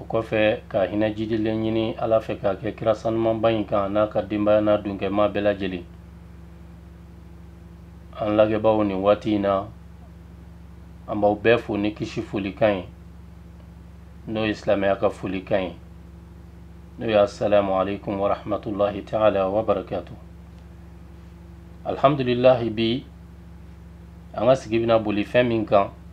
o kɔfɛ ka hinɛ jidilen ɲini ala fɛ k'a kɛ kira sanumanba in kan n'a ka denbaya n'a dunkɛma bɛɛ lajɛlen an lajɛbaaw nin waati in na an b'aw bɛɛ fo ni kisi folikan ye n'o ye silamɛya ka folikan ye n'o ye assalamu alaikum warahmatullahi taala wabarakatu alhamdulilahi bi an ka sigi bɛna boli fɛn min kan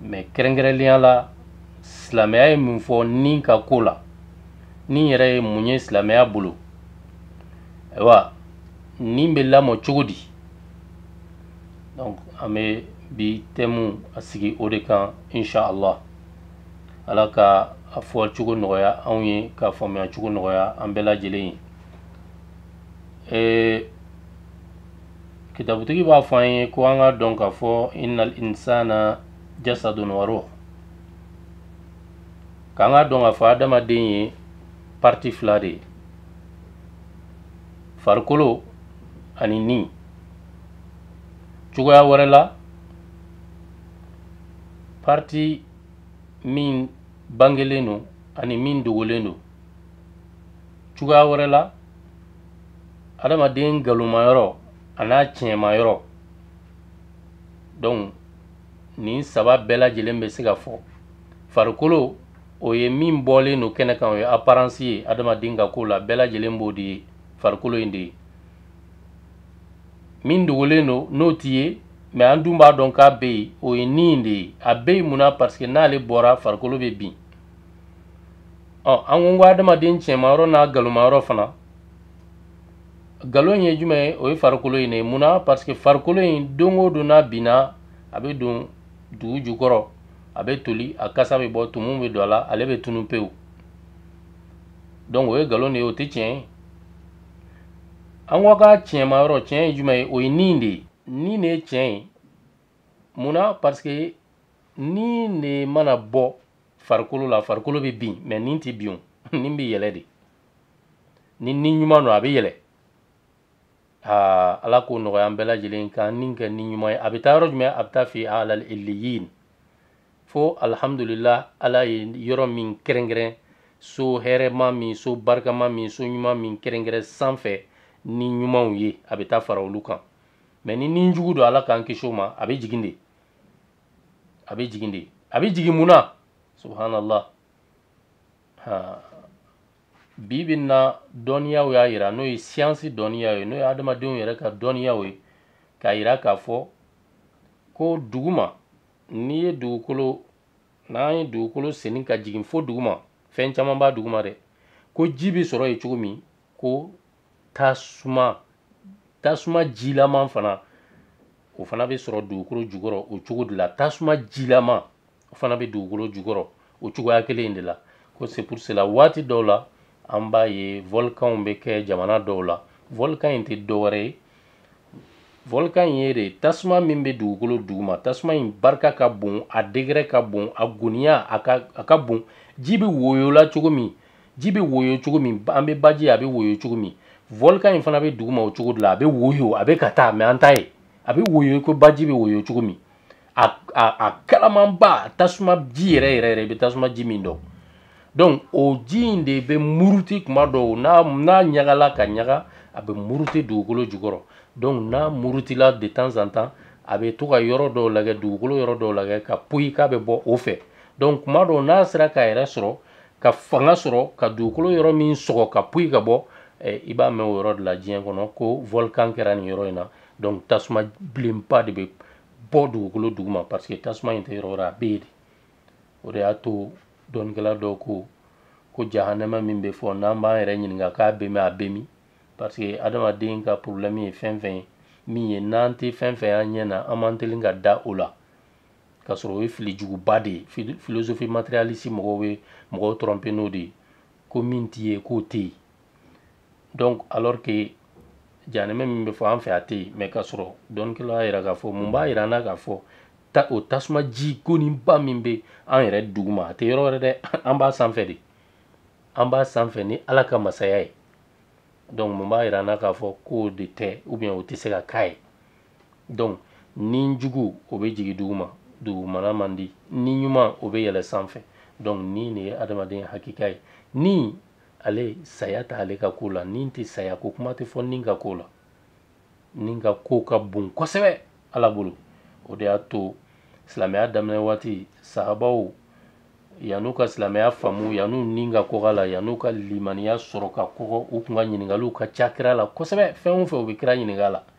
mɛ kɛrɛnkɛrɛnlenya la silamɛya ye mun fɔ ni ka ko la ni yɛrɛ ye mun ye silamɛya bolo ayiwa nin bɛ lamɔ cogo di donc an bɛ bi tɛmu a sigi o de kan inshallah ala ka a fɔ cogo nɔgɔya anw ye ka faamuya cogo nɔgɔya an bɛɛ lajɛlen ye kitabutigi b'a fɔ an ye ko an ka dɔn k'a fɔ innal insana jasadun wa ruh k'an ka dɔn k'a fɔ adamaden ye parti fila de ye farikolo ani ni cogoya wɛrɛ la parti min bangelen don ani min dogolen don cogoya wɛrɛ la adamaden nkalonma yɔrɔ an'a tiɲɛma yɔrɔ donc nin saba bɛɛ lajɛlen bɛ se ka fɔ farikolo o ye min bɔlen don kɛnɛ kan o ye apparence ye adamaden ka ko la bɛɛ lajɛlen b'o de ye farikolo in de ye min dogolen don n'o tɛ ye mɛ an dun b'a dɔn k'a bɛ yen o ye ni in de ye a bɛ yen mun na parce que n'ale bɔra farikolo bɛ bin ɔ an ko n ko adamaden tiɲɛmayɔrɔ n'a galomayɔrɔ fana galon ye jumɛn ye o ye farikolo in de ye munna parce que farikolo in don o don n'a binna a bɛ don dugu jukɔrɔ a bɛ toli a kasa bɛ bɔ tumu bɛ don a la ale bɛ tunu pewu donc o ye galon de ye o tɛ tiɲɛ ye an ko a ka tiɲɛmayɔrɔ tiɲɛ ye jumɛn ye o ye nin de ye nin de ye tiɲɛ ye munna parce que nin de mana bɔ farikolo la farikolo bɛ bin mɛ nin tɛ bin o nin bɛ yɛlɛ de ni ni ɲuman don a bɛ yɛlɛ aa ala k'o nɔgɔya an bɛɛ lajɛlen k'an ni kɛ ni ɲuman ye a bɛ taa yɔrɔ jumɛn a bɛ taa fi ala iliyin fo alhamdulilah ala ye yɔrɔ min kɛrɛnkɛrɛn so hɛrɛma min so barikama min so ɲuman min kɛrɛnkɛrɛn sanfɛ ni ɲumanw ye a bɛ taa fara olu kan mɛ ni ni jugu don ala k'an kisi o ma a bɛ jigin de a bɛ jigin de a bɛ jigin mun na subhanallah bi bi na dɔnniyaw y'a yira n'o ye siyansi dɔnniyaw ye n'o ye adamadenw yɛrɛ ka dɔnniyaw ye k'a yira k'a fɔ ko duguma n'i ye dugukolo n'an ye dugukolo senni ka jigin fo duguma fɛn caman b'a duguma dɛ ko ji bɛ sɔrɔ yen cogo min ko tasuma tasuma jilaman fana o fana bɛ sɔrɔ dugukolo jukɔrɔ o cogo de la tasuma jilaman o fana bɛ dugukolo jukɔrɔ o cogoya kelen in de la ko c'est pour cela waati dɔw la an b'a ye volkanw bɛ kɛ jamana dɔw la volkan in tɛ dɔwɛrɛ ye volkan in ye de tasuma min bɛ dugukolo duguma tasuma in barika ka bon a degɛrɛ ka bon a goniya a ka a ka bon ji bɛ woyo la cogo min ji bɛ woyo cogo min an bɛ baji a bɛ woyo cogo min volcan in fana bɛ duguma o cogo de la a bɛ woyo a bɛ ka taa mais an t'a ye a bɛ woyo ko baji bɛ woyo cogo min a a a kalamanba tasuma ji yɛrɛ yɛrɛ yɛrɛ i bɛ tasuma ji min dɔn donc o ji in de bɛ muruti kuma dɔw n'a n'a ɲagala ka ɲaga a bɛ muruti dugukolo jukɔrɔ donc n'a murutila de temps en temps a bɛ to ka yɔrɔ dɔw lagɛ dugukolo yɔrɔ dɔw lagɛ ka poyi k'a bɛ bɔ o fɛ donc kuma dɔw n'a sera k'a yɛrɛ sɔrɔ ka fanga sɔrɔ ka dugukolo yɔrɔ min sɔgɔ ka poyi ka bɔ eh, i b'a mɛn o yɔrɔ de la diɲɛ kɔnɔ ko volcan kɛra nin yɔrɔ in na donc tasuma bilenba de bɛ bɔ dugukolo duguma parce que tasuma in tɛ yɔrɔ wɛrɛ a bɛ yen de o de y'a to dɔnnikɛla dɔw ko ko jahanama min bɛ fɔ n'an b'an yɛrɛ ɲininka k'a bɛ min a bɛ min parce que adamaden ka problème ye fɛn fɛn ye min ye n'an tɛ fɛn fɛn y'an ɲɛ na an man teli ka da o la k'a sɔrɔ o ye fili juguba de ye philosophie matérialiste mɔgɔw bɛ mɔgɔw tromper n'o de ye ko min tɛ ye k'o tɛ yen donc alors que jahanama min bɛ fɔ an fɛ a tɛ yen mais k'a sɔrɔ dɔnnikɛlaw y'a yira k'a fɔ mun b'a yira an na k'a fɔ ta o tasuma ji goninba min bɛ an yɛrɛ duguma a tɛ yɔrɔ wɛrɛ dɛ an b'a sanfɛ de an b'a sanfɛ ni ala ka masaya ye donc mun b'a yira an na k'a fɔ k'o de tɛ ou bien o tɛ se ka k'a ye donc ni jugu o bɛ jigin duguma dugumana man di ni ɲuman o bɛ yɛlɛ sanfɛ donc ni de ye adamaden hakika ye ni ale saya t'ale ka ko la ni tɛ saya ko kuma tɛ fɔ ni ka ko la ni ka ko ka bon kosɛbɛ ala bolo o de y'a to silamɛya daminɛ waati sahabaw yan'u ka silamɛya faamu yan'u ni ka kɔgɔ la yan'u ka limaniya sɔrɔ ka kɔgɔ u tun ka ɲininkaliw ka ca kira la kosɛbɛ fɛn o fɛn u bɛ kira ɲininka la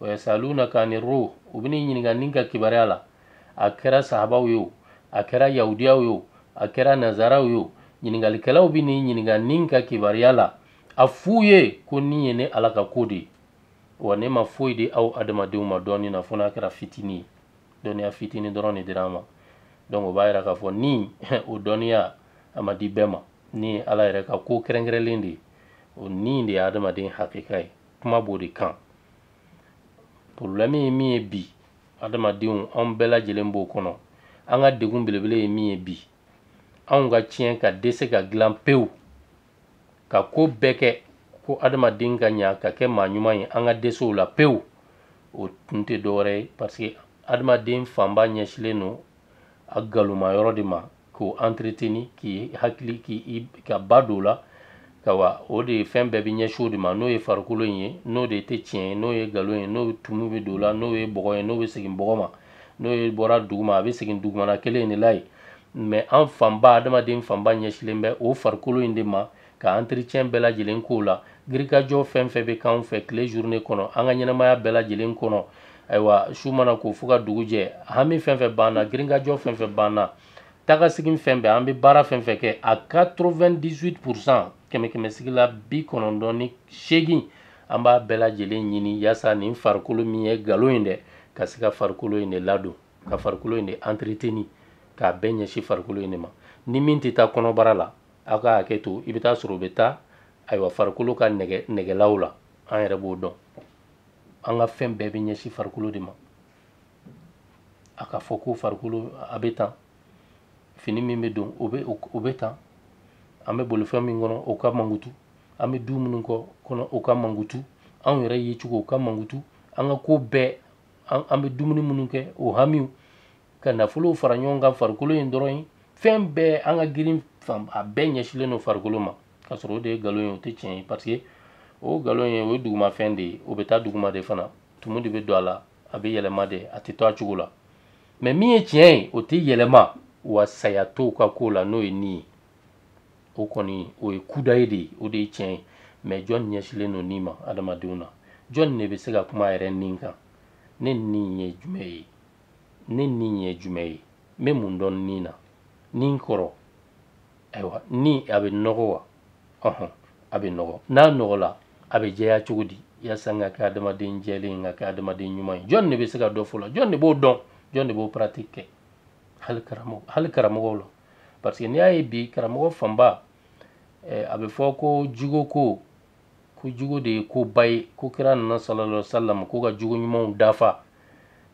wa yasalunaka ani ruh u bɛn'i ɲininka ni ka kibaruya la a kɛra sahabaw ye o a kɛra yahudiyaw ye o a kɛra nazaraw ye o ɲininkalikɛlaw bɛn'i ɲininka ni ka kibaruya la a f'u ye ko ni ye ne ala ka ko de ye wa ne ma foyi di aw adamadenw ma dɔnni na fo n'a kɛra fitinin ye dɔnniya fitinin dɔrɔn de dira an ma donc o b'a yira k'a fɔ ni o dɔnniya a ma di bɛɛ ma ni ye ala yɛrɛ ka ko kɛrɛnkɛrɛnlen de ye o ni de ye adamaden hakeka ye kuma b'o de kan porobilɛmu ye min ye bi adamadenw anw bɛɛ lajɛlen b'o kɔnɔ an ka degun belebele ye min ye bi anw ka tiɲɛ ka dɛsɛ ka dilan pewu ka ko bɛɛ kɛ ko adamaden ka ɲa ka kɛ maa ɲuman ye an ka dɛsɛ o la pewu o tun tɛ dɔwɛrɛ ye parce que adamaden fanba ɲɛsilen don a nkalonma yɔrɔ de ma k'o entreteni k'i hakili k'i ka ba don o la kawa o de ye fɛn bɛɛ bɛ ɲɛsin o de ma n'o ye farikolo in ye n'o de tɛ tiɲɛ ye n'o ye nkalon ye n'o tumu bɛ don o la n'o ye bɔgɔ ye n'o bɛ segin bɔgɔ ma n'o ye bɔra duguma a bɛ segin dugumana kelen in de la yen mais an fanba adamaden fanba ɲɛsilen bɛ o farikolo in de ma ka entretien bɛɛ lajɛlen k'o la girinkajɔ fɛn fɛn bɛ k'anw fɛ tile journée kɔnɔ an ka ɲɛnamaya bɛɛ lajɛlen kɔnɔ ayiwa su mana ko fo ka dugu jɛ hami fɛn fɛn b'an na girinkajɔ fɛn fɛn b'an na tagasegin fɛn bɛɛ an bɛ baara fɛn fɛn kɛ a 98 pourcent kɛmɛ kɛmɛ sigi la bi kɔnɔntɔn ni seegin an b'a bɛɛ lajɛlen ɲini yaasa nin farikolo min ye nkalon ye dɛ ka se ka farikolo in de ladon ka farikolo in de entreteni k'a bɛɛ ɲɛsin farikolo in de ma ni min tɛ taa kɔnɔbara la aw ka hakɛ to i bɛ t'a sɔrɔ o bɛ taa ayiwa farikolo ka nege negelaw la an yɛrɛ b'o dɔn an ka fɛn bɛɛ bɛ ɲɛsin farikolo de ma a ka fɔ ko farikolo a bɛ tan fini min bɛ don o bɛ o bɛ tan an bɛ bolifɛn min kɔnɔ o ka mankutu an bɛ du minnu kɔ kɔnɔ o ka mankutu anw yɛrɛ yecogo o ka mankutu an ka ko bɛɛ an bɛ dumuni minnu kɛ o hamiw ka nafolow fara ɲɔgɔn kan farikolo in dɔrɔn ye fɛn bɛɛ an ka girin fan a bɛɛ ɲɛsilen don farikolo ma k'a sɔrɔ o de ye nkalon ye o tɛ tiɲɛ ye parce que o nkalon ye o ye dugumafɛn de ye o bɛ taa duguma de fana tumu de bɛ don a la a bɛ yɛlɛma de a tɛ to a cogo la mais min ye tiɲɛ ye o tɛ yɛlɛma wa saya t'o ka ko la n'o ye ni ye o kɔni o ye kudayi de ye o de ye tiɲɛ ye mais jɔn ɲɛsilen don ni ma adamadenw na jɔn de bɛ se ka kuma a yɛrɛ ni kan ne ni ye jumɛn ye ne ni ye jumɛn ye n bɛ mun dɔn ni na ni kɔrɔ ayiwa ni a bɛ nɔgɔ wa ɔhɔn a bɛ nɔgɔ n'a nɔgɔla a bɛ jɛya cogo di yasa n ka kɛ adamaden jɛlen n ka kɛ adamaden ɲuman ye jɔn de bɛ se ka dɔ f'o la jɔn de b'o dɔn jɔn de b'o pratique kɛ hali karamɔgɔ hali karamɔgɔw la parce que n'i y'a ye bi karamɔgɔ fanba eh, a bɛ fɔ ko jiko ko ko jigo de ye ko ba ye ko kira nana sallallahu sallam ko ka jogo ɲumanw dafa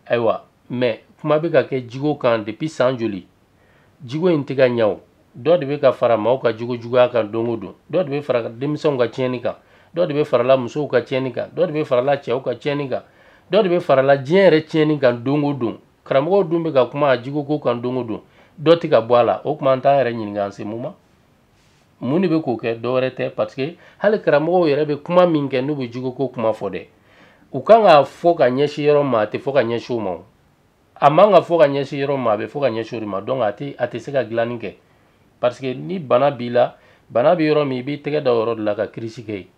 ayiwa mɛ kuma bɛ ka kɛ jigo kan depuis san joli jigo in tɛ ka ɲa o dɔ de bɛ ka fara maaw ka jogo juguya kan don o don dɔ de bɛ fara denmisɛnw ka tiɲɛni kan dɔ de bɛ farala musow ka tiɲɛni kan dɔ de bɛ farala cɛw ka tiɲɛni kan dɔ de bɛ farala diɲɛ yɛrɛ tiɲɛni kan don o don karamɔgɔw dun bɛ ka kuma a jigoko kan don o don dɔ tɛ ka bɔ a la o tuma an t'an yɛrɛ ɲininka an se mun ma mun de bɛ k'o kɛ dɔwɛrɛ tɛ parce que hali karamɔgɔw yɛrɛ bɛ kuma min kɛ n'u bɛ jogoko kuma fɔ dɛ u kan k'a fɔ ka ɲɛsin yɔrɔ ma a tɛ fɔ ka ɲɛsin o ma o a man ka fɔ ka ɲɛsin yɔrɔ ma a bɛ fɔ ka ɲɛsin o de ma donc a tɛ a tɛ se ka dilanni kɛ parce que ni bana b'i la bana bɛ yɔrɔ min i b'i tɛgɛ da o yɔrɔ de la ka kirisi kɛ yen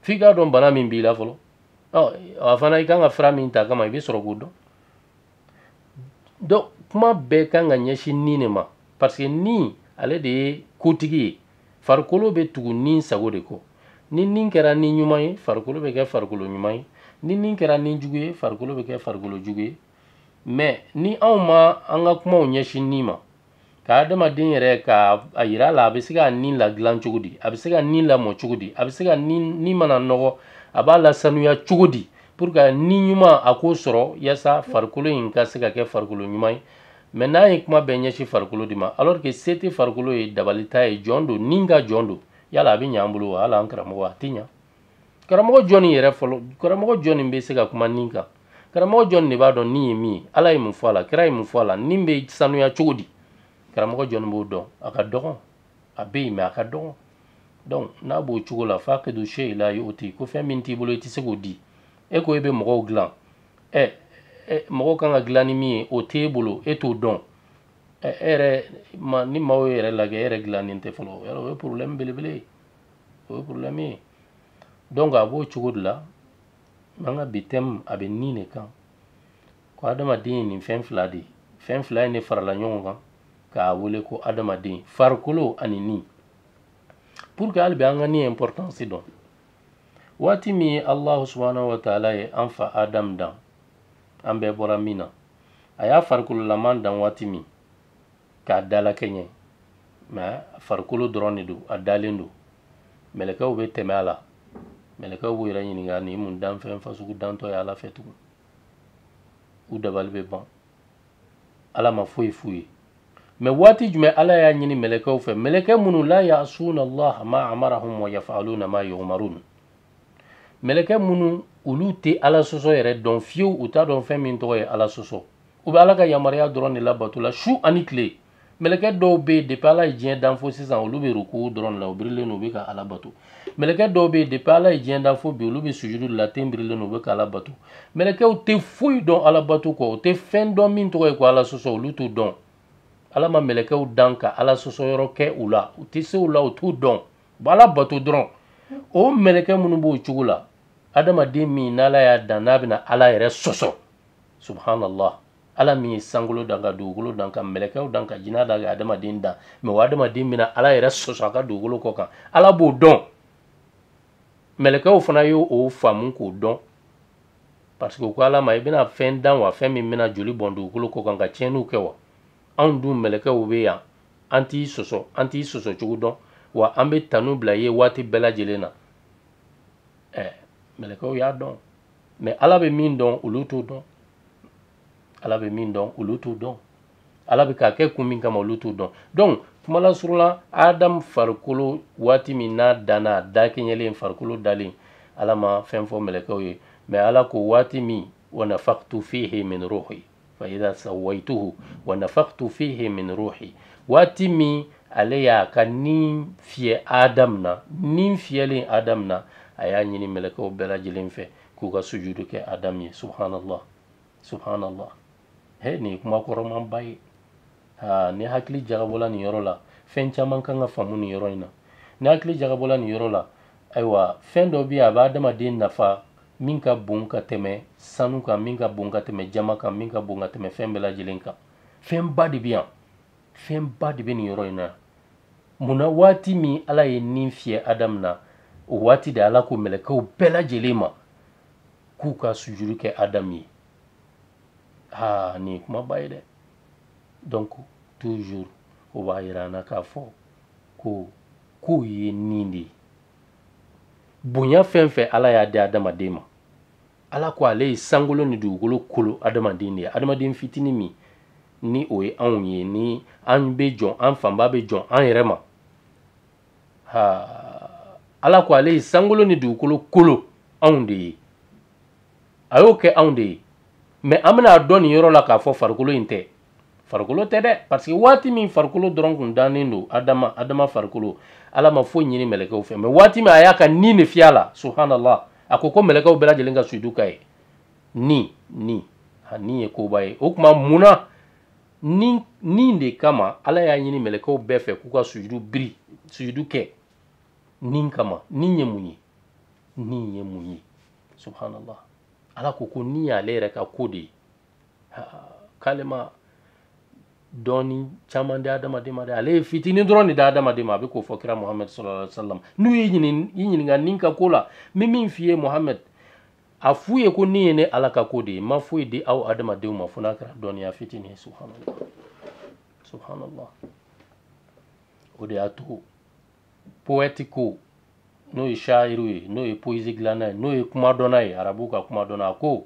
f'i k'a dɔn bana min b'i la fɔlɔ ɔ a fana i kan ka fura min ta kama i bɛ sɔrɔ k'o dɔn donc kuma bɛɛ kan ka ɲɛsin ni de ma parce que ni ale de ye kotigi ye farikolo bɛ tugu ni sago de kɔ ni ni kɛra ni ɲuman ye farikolo bɛ kɛ farikolo ɲuman ye ni ni kɛra ni jugu ye farikolo bɛ kɛ farikolo jugu ye mɛ ni anw ma an ka kumaw ɲɛsin ni ma ka adamaden yɛrɛ k'a yira a la a bɛ se ka ni ladilan cogo di a bɛ se ka ni lamɔ cogo di a bɛ se ka ni ni mana nɔgɔ a b'a la sanuya cogo di pour que ni ɲuman a k'o sɔrɔ yasa farikolo in ka se ka kɛ farikolo ɲuman ye mɛ n'an ye kuma bɛɛ ɲɛsin farikolo de ma alors que se tɛ farikolo ye dabali t'a ye jɔn don ni ka jɔn don yala a bɛ ɲa an bolo wa hali an karamɔgɔ a tɛ ɲa karamɔgɔ jɔni yɛrɛ fɔlɔ karamɔgɔ jɔni bɛ se ka kuma ni kan karamɔgɔ jɔni de b'a dɔn ni ye min ye ala ye mun fɔ a la kira ye mun fɔ a la ni bɛ sanuya cogo di karamɔgɔ jɔni b'o dɔn a ka dɔgɔn a bɛ yen mɛ a ka dɔgɔn donc n'a b'o cogo la fakidu shayi la yuti ko fɛn min t'i bolo i tɛ se k'o di e ko e bɛ mɔgɔw dilan ɛ mɔgɔw kan ka dilan ni min ye o t'e bolo e t'o dɔn ɛ e yɛrɛ ni maaw ye e yɛrɛ lajɛ e yɛrɛ dilannen tɛ fɔlɔ o ye problème belebele ye o ye problème ye donc a b'o cogo de la an ka bi thème a bɛ ni de kan ko adamaden ye nin fɛn fila de ye fɛn fila in de farala ɲɔgɔn kan k'a wele ko adamaden farikolo ani ni pour que hali bi an ka ni importance dɔn waati min ye alahu subahana wa taala ye an fa adamu dan an bɛɛ bɔra min na a y'a farikololaman dan waati min k'a dalakɛɲɛ mɛ a farikolo dɔrɔn de don a dalen don mɛlɛkɛw bɛ tɛmɛ a la mɛlɛkɛw b'u yɛrɛ ɲininka nin ye mun danfɛn fasugu dantɔ ye ala fɛ tugun u dabali bɛ ban ala ma foyi f'u ye mɛ waati jumɛn ala y'a ɲini mɛlɛkɛw fɛ mɛlɛkɛ minnu la yasuna allah ma amarahum wa yafaluna ma yumarun mɛlɛkɛ minnu olu tɛ ala sɔsɔ yɛrɛ dɔn fiyewu u t'a dɔn fɛn min tɔgɔ ye ala sɔsɔ u bɛ ala ka yamaruya dɔrɔn de labato la su ani tile mɛlɛkɛ dɔw bɛ yen depi ala ye diɲɛ dan fo sisan olu bɛ ruku dɔrɔn de la u birilen don u bɛ ka ala bato mɛlɛkɛ dɔw bɛ yen depi ala ye diɲɛ dan fo bi olu bɛ sujudu de la ten birilen don u bɛ ka ala bato mɛlɛkɛw tɛ foyi dɔn ala bato kɔ u tɛ fɛn dɔn min tɔgɔ ye ko ala sɔsɔ olu t'o dɔn ala ma mɛlɛkɛw dan ka ala sɔsɔ yɔrɔ kɛ u la u tɛ se o la u t'o dɔn b'ala bato dɔrɔn o mɛlɛkɛ minnu b'o cogo la adamaden min n'ala y'a dan n'a bɛna ala yɛrɛ sɔsɔ subhanallah ala min ye sankolo dan ka dugukolo dan ka mɛlɛkɛw dan ka jina dan ka adamaden dan mɛ o adamaden bɛna ala yɛrɛ sɔsɔ a ka dugukolo kɔ kan ala b'o dɔn mɛlɛkɛw fana ye o faamu k'o dɔn parce que u ko ala ma i bɛna fɛn dan wa fɛn min bɛna joli bɔn dugukolo kɔ kan ka tiɲɛniw kɛ wa anw dun mɛlɛkɛw bɛ yan an t'i sɔsɔ an t'i sɔsɔ cogo dɔn wa an bɛ tanu bila i ye waati bɛɛ lajɛlen na ɛɛ eh, mɛlɛkɛw y'a dɔn mɛ ala bɛ min dɔn olu t'o dɔn ala bɛ min dɔn olu t'o dɔn ala bɛ k'a kɛ kun min kama olu t'o dɔn donc kumalasurunya la adamu farikolo waati min n'a danna a dakɛɲɛlen farikolo dalen ala ma fɛn fɔ mɛlɛkɛw ye mɛ ala ko waati min wa nafaktu fihi min ruhi faida sawaituhu wa nafakhtu fihi min ruhi waati min ale y'a ka ni fiyɛ adamu na ni fiyɛlen adamu na a y'a ɲini mɛlɛkɛw bɛɛ lajɛlen fɛ k'u ka sujudu kɛ adamu ye subhanallah subhanallah he nin ye kuma kɔrɔmanba ye aa ni hakili jagabɔla nin yɔrɔ la fɛn caman kan ka faamu nin yɔrɔ in na ni hakili jagabɔla nin yɔrɔ la ayiwa fɛn dɔ bɛ yen a bɛ adamaden nafa min ka bon ka tɛmɛ sanu kan min ka bon ka tɛmɛ jaman kan min ka bon ka tɛmɛ fɛn bɛɛ lajɛlen kan fɛnba de bɛ yan fɛnba de bɛ nin yɔrɔ in na mun na waati min ala ye ni fiyɛ adamu na o waati de ala ko mɛlɛkɛw bɛɛ lajɛlen ma k'u ka sujudu kɛ adamu ye aa nin ye kumaba ye dɛ donc toujours o b'a yira an na k'a fɔ ko ko ye ni de ye bonya fɛn o fɛn ala y'a di adamaden ma ala ko ale ye sankolo ni dugukolo kolo adamaden de ye adamaden fitinin min ni o ye anw ye ni an bɛ jɔn an fanba bɛ jɔn an yɛrɛ ma ha ala ko ale ye sankolo ni dugukolo kolo anw de ye a y'o kɛ anw de ye mɛ an bɛna a dɔn nin yɔrɔ la k'a fɔ farikolo in tɛ farikolo tɛ dɛ parce que waati min farikolo dɔrɔn kun dannen don adama adama farikolo ala ma foyi ɲini mɛlɛkɛw fɛ mɛ waati min a y'a ka ni de fiyɛ a la subhanallah a ko ko mɛlɛkɛw bɛɛ lajɛlen ka sujudu k'a ye ni ni a ni ye koba ye o tuma mun na ni ni de kama ala y'a ɲini mɛlɛkɛw bɛɛ fɛ k'u ka sujudu biri sujudu kɛ ni kama ni ye mun ye ni ye mun ye subhanallah ala ko ko ni y'ale yɛrɛ ka ko de ye k'ale ma dɔnni caman di adamaden ma dɛ ale ye fitinin dɔrɔn de di adamaden ma a bɛ k'o fɔ kira muhamɛd sallallahu alaihi wasallam n'u y'i ɲininka ni ka ko la n bɛ min f'i ye muhamɛd a f'u ye ko ni ye ne ala ka ko de ye n ma foyi di aw adamadenw ma fo n'a kɛra dɔnniya fitinin ye subhanallah subhanallah o de y'a to poɛti ko n'o ye shayiriw ye n'o ye poyizi dilanna ye n'o ye kuma dɔnna ye arabuw ka kuma dɔnna a ko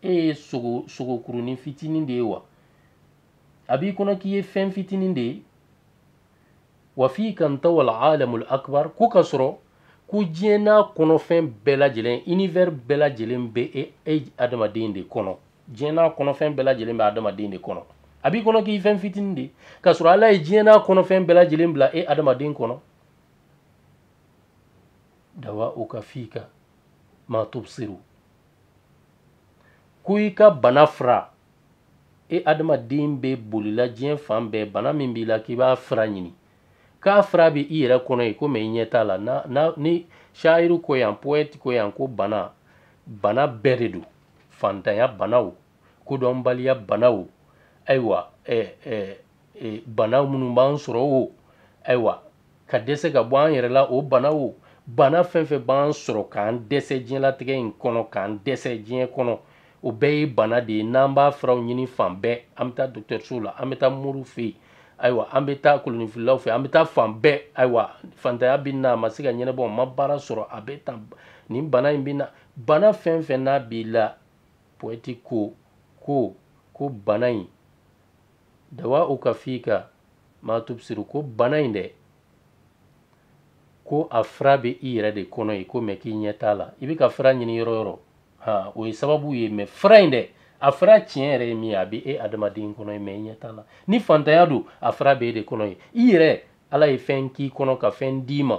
e ye sogo sogokurunin fitinin de ye wa a b'i kɔnɔ k'i ye fɛn fitinin de ye wa fika ntawal alamul akbar ko ka sɔrɔ ko diɲɛ n'a kɔnɔfɛn bɛɛ lajɛlen univers bɛɛ lajɛlen bɛ e e adamaden de kɔnɔ diɲɛ n'a kɔnɔfɛn bɛɛ lajɛlen bɛ adamaden de kɔnɔ a b'i kɔnɔ k'i fɛn fitinin de ka sɔrɔ ala ye diɲɛ n'a kɔnɔfɛn bɛɛ lajɛlen bila e adamaden kɔnɔ dawauka fika ma tubsiru ko i ka bana fura e adamaden bɛ bolila diɲɛ fan bɛɛ bana min b'i la k'i b'a fura ɲini k'a fura bɛ i yɛrɛ kɔnɔ yen ko mɛ i ɲɛ t'a la na na ni shayiri ko yan poɛti ko yan ko bana bana bɛɛ de don fantanya banaw kodɔnbaliya banaw ayiwa ɛɛ ɛɛ e, bana minnu b'an sɔrɔ o ayiwa ka dɛsɛ ka bɔ an yɛrɛ la o bana o bana fɛn fɛn b'an sɔrɔ k'an dɛsɛ diɲɛlatigɛ in kɔnɔ k'an dɛsɛ diɲɛ kɔnɔ o bɛɛ ye bana de ye n'an b'a furaw ɲini fan bɛɛ an bɛ taa dɔgɔtɔrɔsow la an bɛ taa moriw fɛ yen ayiwa an bɛ taa kolonifililaw fɛ an bɛ taa fan bɛɛ ayiwa fantanya bɛ n na a ma se ka ɲɛnabɔ n ma baara sɔrɔ a bɛ tan nin bana in bɛ n na bana fɛn fɛn n'a b'i la poɛti ko ko ko bana in dawauka fika ma tubsiru ko bana in dɛ ko a fura bɛ i yɛrɛ de kɔnɔ yen ko mɛ k'i ɲɛ t'a la i bɛ k'a fura ɲini yɔrɔ yɔrɔ ha o ye sababu ye mɛ fura in dɛ a fura tiɲɛ yɛrɛ ye min ye a bɛ e adamaden kɔnɔ yen mɛ i ɲɛ t'a la ni fantanya don a fura bɛ e de kɔnɔ yen i yɛrɛ ala ye fɛn k'i kɔnɔ ka fɛn d'i ma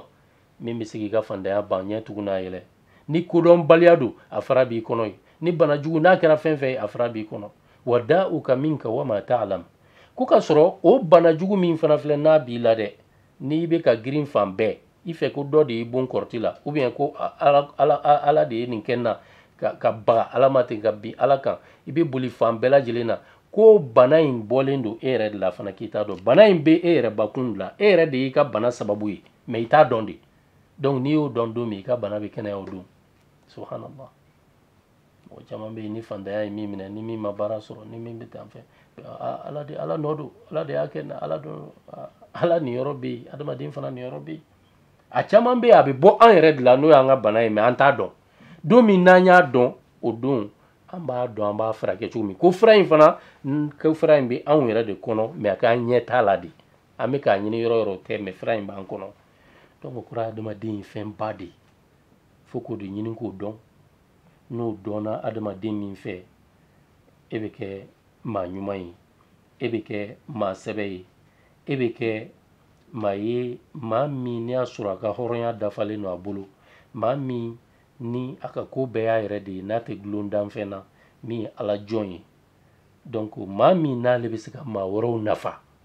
min bɛ se k'i ka fantanya ban ɲɛ tugu n'a yɛlɛ ni kodɔnbaliya don a fura b'i kɔnɔ ye ni bana jugu n'a kɛra fɛn fɛn ye a fura b'i kɔnɔ wa dauka minka wa ma talam ko ka sɔrɔ o bana jugu min fana filɛ n'a b'i la dɛ n'i bɛ ka girin fan bɛɛ i fɛ ko dɔ de y'i bon kɔrɔti la ou bien ko ala ala ala de ye nin kɛ n na ka ka baga ala ma ten ka bin ala kan i bɛ boli fan bɛɛ lajɛlen na ko bana in bɔlen don e yɛrɛ de la fana k'i t'a dɔn bana in bɛ e yɛrɛ bakun de la e yɛrɛ de y'i ka bana sababu ye mɛ i t'a dɔn de donc n'i y'o dɔn don min i ka bana bɛ kɛnɛya o don subhanallah mɔgɔ caman bɛ yen ni fantanya ye min minɛ ni min ma baara sɔrɔ ni min bɛ tan fɛ ala de ala nɔ don ala de y'a kɛ n na ala don ala niyɔrɔ bɛ yen adamaden fana niyɔrɔ bɛ yen a caman bɛ yen a bɛ bɔ an yɛrɛ de la n'o y'an ka bana ye mɛ an t'a dɔn don min n'an y'a dɔn o don an b'a dɔn an b'a furakɛ cogo min ko fura in fana ko fura in bɛ anw yɛrɛ de kɔnɔ mɛ a k'an ɲɛ t'a la de an bɛ k'a ɲini yɔrɔ yɔrɔ tɛ mɛ fura in b'an kɔnɔ donc kura adamaden ye fɛn ba de ye fo k'o de ɲini k'o dɔn n'o dɔnna adamaden min fɛ e bɛ kɛ maa ɲuman ye e bɛ kɛ maa sɛbɛ ye e bɛ kɛ maa ye maa min n'i y'a sɔrɔ a ka hɔrɔnya dafalen don a bolo maa min ni a ka ko bɛɛ y'a yɛrɛ de ye n'a tɛ dulon danfɛn na min ye ala jɔn ye donc maa min n'ale bɛ se ka maa wɛrɛw nafa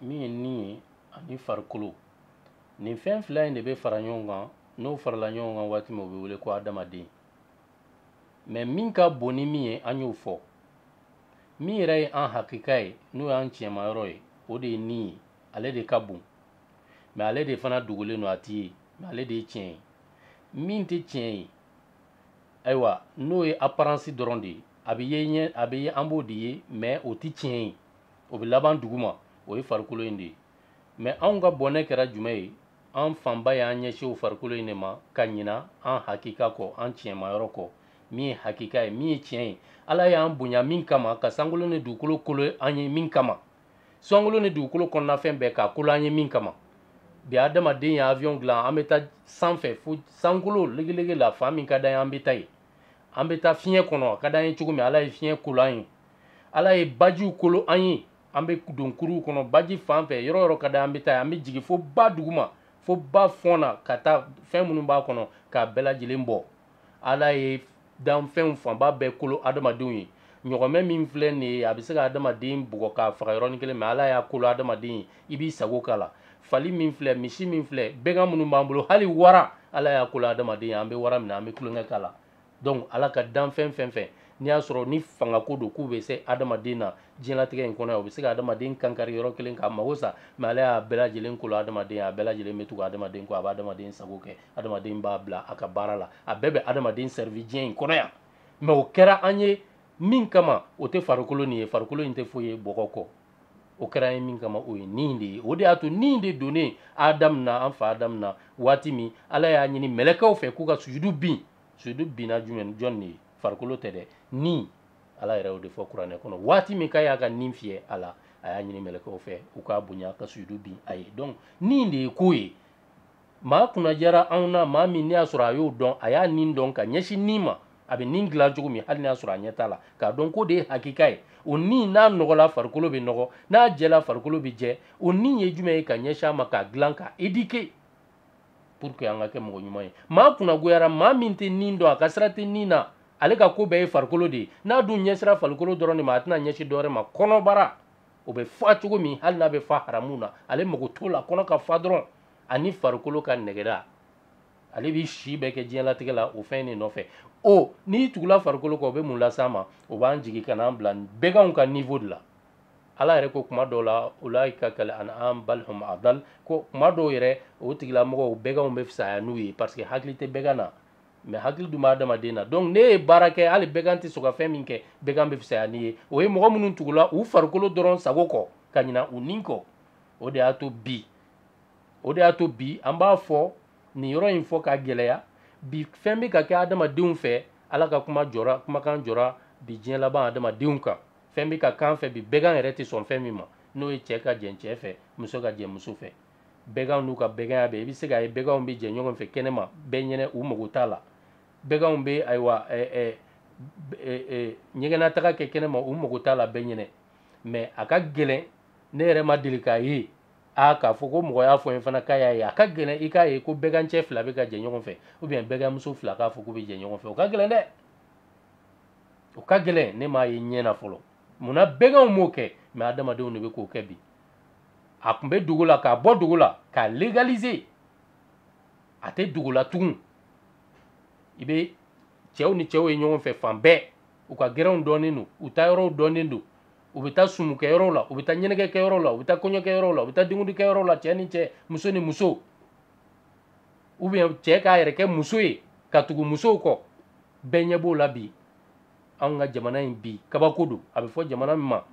min ye ni ye ani farikolo nin fɛn fila in de bɛ fara ɲɔgɔn kan n'o farala ɲɔgɔn kan waati min o bɛ wele ko adamaden mɛ min ka bon ni min ye an y'o fɔ min yɛrɛ ye an hakika ye n'o y'an tiɲɛmayɔrɔ ye o de ye ni ye ale de ka bon mɛ ale de fana dogolen don a tɛ ye mɛ ale de ye tiɲɛ ye min tɛ tiɲɛ ye ayiwa n'o ye aparansi dɔrɔn de ye a bɛ ye ɲɛ a bɛ ye an b'o de ye mɛ o tɛ tiɲɛ ye o bɛ laban duguma o ye farikolo in de ye mɛ anw ka bɔnɛ kɛra jumɛn ye an fanba y'an ɲɛsin o farikolo in de ma ka ɲina an hakika kɔ an tiɲɛmayɔrɔ kɔ min ye hakika ye min ye tiɲɛ ye ala y'an bonya min kama ka sankolo ni dugukolo kolo an ye min kama sankolo ni dugukolo kɔnɔnafɛn bɛɛ k'a kolo an ye min kama bi adamaden ye avion dilan an bɛ taa sanfɛ fo sankolo legelege la fan min ka d'an ye an bɛ taa ye an bɛ taa fiɲɛ kɔnɔ a ka d'an ye cogo min ala ye fiɲɛ kolo an ye ala ye bajiw kolo an ye an bɛ don kuruw kɔnɔ baji fan fɛ yɔrɔ yɔrɔ ka di an bɛ taa an bɛ jigin fo ba duguma fo ba fɔn na ka taa fɛn minnu b'a kɔnɔ k'a bɛɛ lajɛlen bɔ ala ye danfɛnw fanba bɛɛ kolo adamadenw ye ɲɔgɔmɛ min filɛ nin ye a bɛ se ka adamaden bugɔ k'a faga yɔrɔnin kelen mɛ ala y'a kolo adamaden ye i b'i sago k'a la fali min filɛ misi min filɛ bɛgan minnu b'an bolo hali wara ala y'a kolo adamaden ye an bɛ wara minɛ an bɛ tulonkɛ k'a la donc ala ka danfɛn fɛn fɛn n'i y'a sɔrɔ ni fangako don k'u bɛ se adamaden na diɲɛlatigɛ in kɔnɔ yan o bɛ se ka adamaden kankari yɔrɔ kelen k'a mago sa mais ala y'a bɛɛ lajɛlen kolo adamaden ye a bɛɛ lajɛlen bɛ tugu adamaden kɔ a bɛ adamaden sago kɛ adamaden b'a bila a ka baara la a bɛɛ bɛ adamaden servir diɲɛ in kɔnɔ yan mais o kɛra an ye min kama o tɛ farikolo nin ye farikolo in tɛ foyi ye bɔgɔ kɔ o kɛra an ye min kama o ye nin de ye o de y'a to nin de donnen adamu na an fa adamu na waati min ala y'a ɲini mɛlɛkɛw fɛ k'u ka sujudu bin sujudu binna jumɛn jɔn de ye farikolo tɛ dɛ ni ala yɛrɛ y'o de fɔ kuranɛ kɔnɔ waati min k'a y'a ka nin fiyɛ a la a y'a ɲini mɛlɛkɛw fɛ u k'a bonya ka sujudu bin a ye donc nin de ye ko ye maa kunnadiyara anw na maa min n'i y'a sɔrɔ a y'o dɔn a y'a nin dɔn ka ɲɛsin nin ma a bɛ nin dilan cogo min hali n'a sɔrɔ a ɲɛ t'a la k'a dɔn k'o de ye hakika ye o ni n'a nɔgɔla farikolo bɛ nɔgɔ n'a jɛla farikolo bɛ jɛ o ni ye jumɛn ye ka ɲɛsin a ma k'a dilan k'a éduquer pour que an ka kɛ mɔgɔ ɲuman ye maa kunnagoyara maa min tɛ nin dɔn a ka sira tɛ nin na ale ka ko bɛɛ ye farikolo de ye n'a dun ɲɛsira farikolo dɔrɔn de ma a tɛna ɲɛsin dɔwɛrɛ ma kɔnɔbara o bɛ fa cogo min hali n'a bɛ fa haramu na ale mago t'o la kɔnɔ ka fa dɔrɔn ani farikolo ka nɛgɛda ale b'i si bɛɛ kɛ diɲɛlatigɛ la o fɛn in de nɔfɛ o n'i tugula farikolo kɔ o bɛ mun las'an ma o b'an jigin ka n'an bila bɛganw ka niveau de la ala yɛrɛ ko kuma dɔw la ulaika kal an'am bal hum adal ko kuma dɔw yɛrɛ o tigilamɔgɔw bɛganw bɛ fisaya n'u ye parce que hakili tɛ bɛgan na mais hakili dun bɛ adamaden na donc n'i ye baara kɛ hali bɛgan tɛ sɔn ka fɛn min kɛ bɛgan bɛ fisaya n'i ye o ye mɔgɔ minnu tugula u farikolo dɔrɔn sago kɔ ka ɲina u ni kɔ o de y'a to bi o de y'a to bi an b'a fɔ nin yɔrɔ in fɔ k'a gɛlɛya bi fɛn bɛ ka kɛ adamadenw fɛ ala ka kuma jɔra kumakan jɔra bi diɲɛ laban adamadenw kan fɛn bɛ ka k'an fɛ bi bɛgan yɛrɛ tɛ sɔn fɛn min ma n'o ye cɛ ka jɛn cɛ fɛ muso ka jɛn muso fɛ bɛganw n'u ka bɛganya bɛɛ i bɛ se k'a ye bɛganw bɛ jɛn ɲɔgɔn fɛ kɛnɛma bɛɛ ɲɛnɛ u mago t'a la bɛganw bɛ ayiwa ɲɛgɛnnataga kɛ kɛnɛma u mago t'a la bɛɛ ɲɛnɛ mais a ka gɛlɛn ne yɛrɛ ma deli k'a ye a k'a fɔ ko mɔgɔ y'a fɔ n ye fana k'a y'a ye a ka gɛlɛn i k'a ye ko bɛgancɛ fila bɛ ka jɛn ɲɔgɔn fɛ ou bien bɛganmuso fila k'a fɔ k'u bɛ jɛn ɲɔgɔn fɛ o ka gɛlɛn dɛ o ka gɛlɛn ne m'a ye ɲɛ na fɔlɔ munna bɛganw m'o kɛ mais adamadenw de bɛ k'o kɛ bi a tun bɛ dogo la k'a bɔ dogo la k'a légaliser a tɛ dogo la tugun i bɛ cɛw ni cɛw ye ɲɔgɔn fɛ fan bɛɛ u ka gɛrɛnw dɔnnen don u taayɔrɔw dɔnnen don u bɛ taa sumukɛyɔrɔw la u bɛ taa ɲɛnajɛkɛyɔrɔw la u bɛ taa kɔɲɔkɛyɔrɔw la u bɛ taa denkundikɛyɔrɔw la cɛ ni cɛ muso ni muso ou bien cɛ k'a yɛrɛ kɛ muso ye ka tugu musow kɔ bɛɛ ɲɛ b'o la bi anw ka jamana in bi kabako don a bɛ fɔ jamana min ma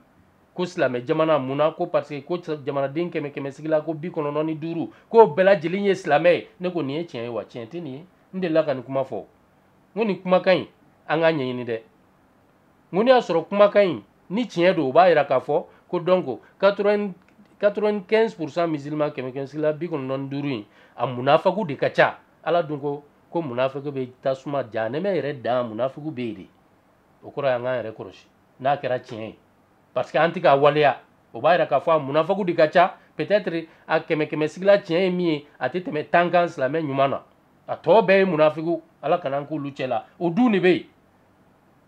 ko silamɛ jamana mun na ko parce que ko jamanaden kɛmɛ kɛmɛ sigi la ko bi kɔnɔntɔn ni duuru k'o bɛɛ lajɛlen ye silamɛ ye ne ko nin ye tiɲɛ ye wa tiɲɛ tɛ nin ye n delila ka nin kuma fɔ n ko nin kumakan in an k'a ɲɛɲini dɛ n ko n'i y'a sɔrɔ kumakan in ni tiɲɛ don o b'a yira k'a fɔ ko donc 95 pourcent musulman kɛmɛ kɛmɛ sigila bi kɔnɔntɔn ni duuru in a munafaku de ka ca ala dun ko ko munafaku bɛ tasuma janɛmɛ yɛrɛ dan munafaku bɛ yen de o kɔrɔ y'an k'an yɛrɛ kɔlɔsi n'a kɛra tiɲɛ ye parce que an tɛ k'a waleya o b'a yira k'a fɔ a munafaku de ka ca peut-être a kɛmɛ kɛmɛ sigila tiɲɛ ye min ye a tɛ tɛmɛ tan kan silamɛ ɲuman na a tɔ bɛɛ ye munafiku ala kana an k'olu cɛ la o dun de bɛ yen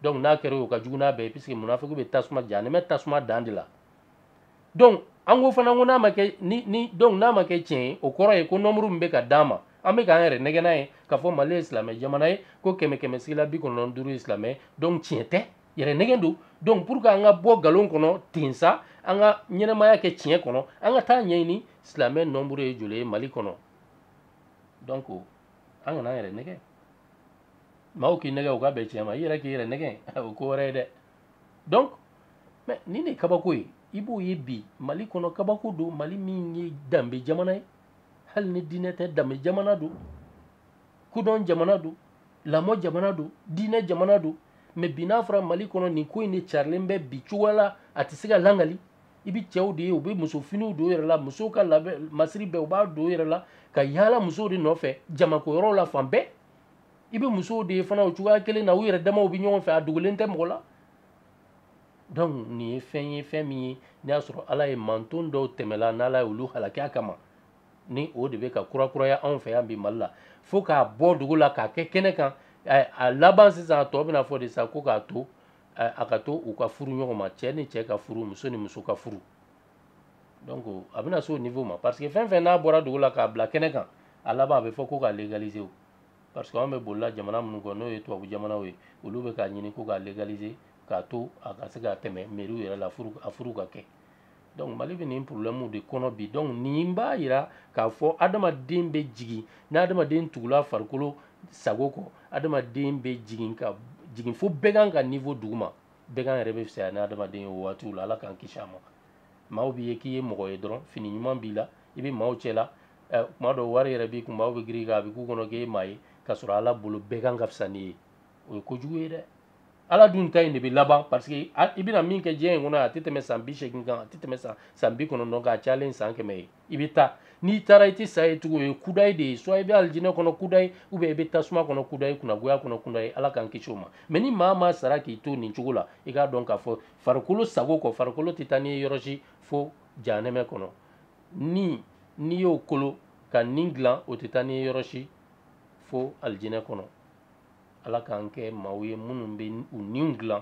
donc n'a kɛra o ka jugu n'a bɛɛ ye puisque munafiku bɛ tasuma janɛmɛ tasuma dan de la donc an ko fana ko n'a ma kɛ ni ni donc n'a ma kɛ tiɲɛ ye o kɔrɔ ye ko nɔnburu min bɛ ka d'an ma an bɛ k'an yɛrɛ nɛgɛn n'a ye k'a fɔ mali ye silamɛ jamana ye ko kɛmɛ kɛmɛ sigila bi kɔnɔntɔn duuru ye silamɛ ye donc tiɲɛ tɛ yɛrɛ nɛgɛn don donc pour que an ka bɔ nkalon kɔnɔ ten sa an ka ɲɛnamaya kɛ tiɲɛ kɔnɔ an ka t'a ɲɛɲini silamɛ nɔnburu ye joli ye mali kɔnɔ donc an kana an yɛrɛ nɛgɛn maaw k'i nɛgɛn u ka bɛn tiɲɛ ma i yɛrɛ k'i yɛrɛ nɛgɛn o ko wɛrɛ ye dɛ donc mais nin de ye kabako ye i b'o ye bi mali kɔnɔ kabako don mali min ye danbe jamana ye hali ni diinɛ tɛ danbe jamana don kodɔn jamana don lamɔ jamana don diinɛ jamana don mais bi n'a fɔra mali kɔnɔ nin ko in de carilen bɛ bi cogoya la a tɛ se ka lakali i bɛ cɛw de ye u bɛ muso finiw don yɛrɛ la musow ka labɛn masiri bɛɛ u b'a don yɛrɛ la ka yaala musow de nɔfɛ jamako yɔrɔw la fan bɛɛ i bɛ musow de ye fana o cogoya kelen na u yɛrɛ damaw bɛ ɲɔgɔn fɛ a dogolen tɛ mɔgɔ la donc nin ye fɛn ye fɛn min ye n'i y'a sɔrɔ ala ye manton dɔw tɛmɛla n'ala ye olu halaki a kama ni o de bɛ ka kurakuraya anw fɛ yan bi mali la fo k'a bɔ dogo la k'a kɛ kɛnɛ kan a laban sisan a tɔ bɛna fɔ de sa ko k'a to a ka to u ka furu ɲɔgɔn ma cɛ ni cɛ ka furu muso ni muso ka furu donc a bɛna se o niveau ma parce que fɛn fɛn n'a bɔra dogo la k'a bila kɛnɛ kan a laban a bɛ fɔ ko k'a légaliser o parce que anw bɛ bolila jamana minnu kɔ n'o ye tubabu jamanaw ye olu bɛ k'a ɲini ko k'a légaliser k'a to a ka se ka tɛmɛ mɛriw yɛrɛ la furu a furu ka kɛ donc mali bɛ nin problème de kɔnɔ bi donc nin b'a yira k'a fɔ adamaden bɛ jigin ni adamaden tugula farikolo sago kɔ adamaden bɛ jigin ka jigin fo bagan ka niveau duguma bagan yɛrɛ bɛ fisaya ni adamaden ye o waatiw la ala k'an kisi a ma maaw b'i ye k'i ye mɔgɔ ye dɔrɔn fini ɲuman b'i la i bɛ maaw cɛ la kuma dɔw wari yɛrɛ b'i kun maaw bɛ girin i kan a bɛ k'u kɔnɔ k'e ye maa ye k'a sɔrɔ ala bolo bagan ka fisa n'i ye o ye kojugu ye dɛ ala dun ta in de bɛ laban parce que i bɛna min kɛ diɲɛ in kɔnɔ a tɛ tɛmɛ san bi seegin kan a tɛ tɛmɛ san san bi kɔnɔntɔn kan a cayalen san kɛmɛ ye i bɛ taa n'i taara i tɛ sa yen tugun o ye kudayi de ye soit i bɛ alijinɛ kɔnɔ kudayi ou bien i bɛ tasuma kɔnɔ kudayi kunnagoya kɔnɔ kudayi ala k'an kisi o ma mais ni maa maa sara k'i to nin cogo la i k'a dɔn k'a fɔ farikolo sago kɔ farikolo tɛ taa n'i ye yɔrɔ si fo jahanɛmɛ kɔnɔ ni n'i y'o kolo ka ni dilan o tɛ taa n'i ye yɔrɔ si fo alijinɛ kɔnɔ ala k'an kɛ maaw ye minnu bɛ u niw dilan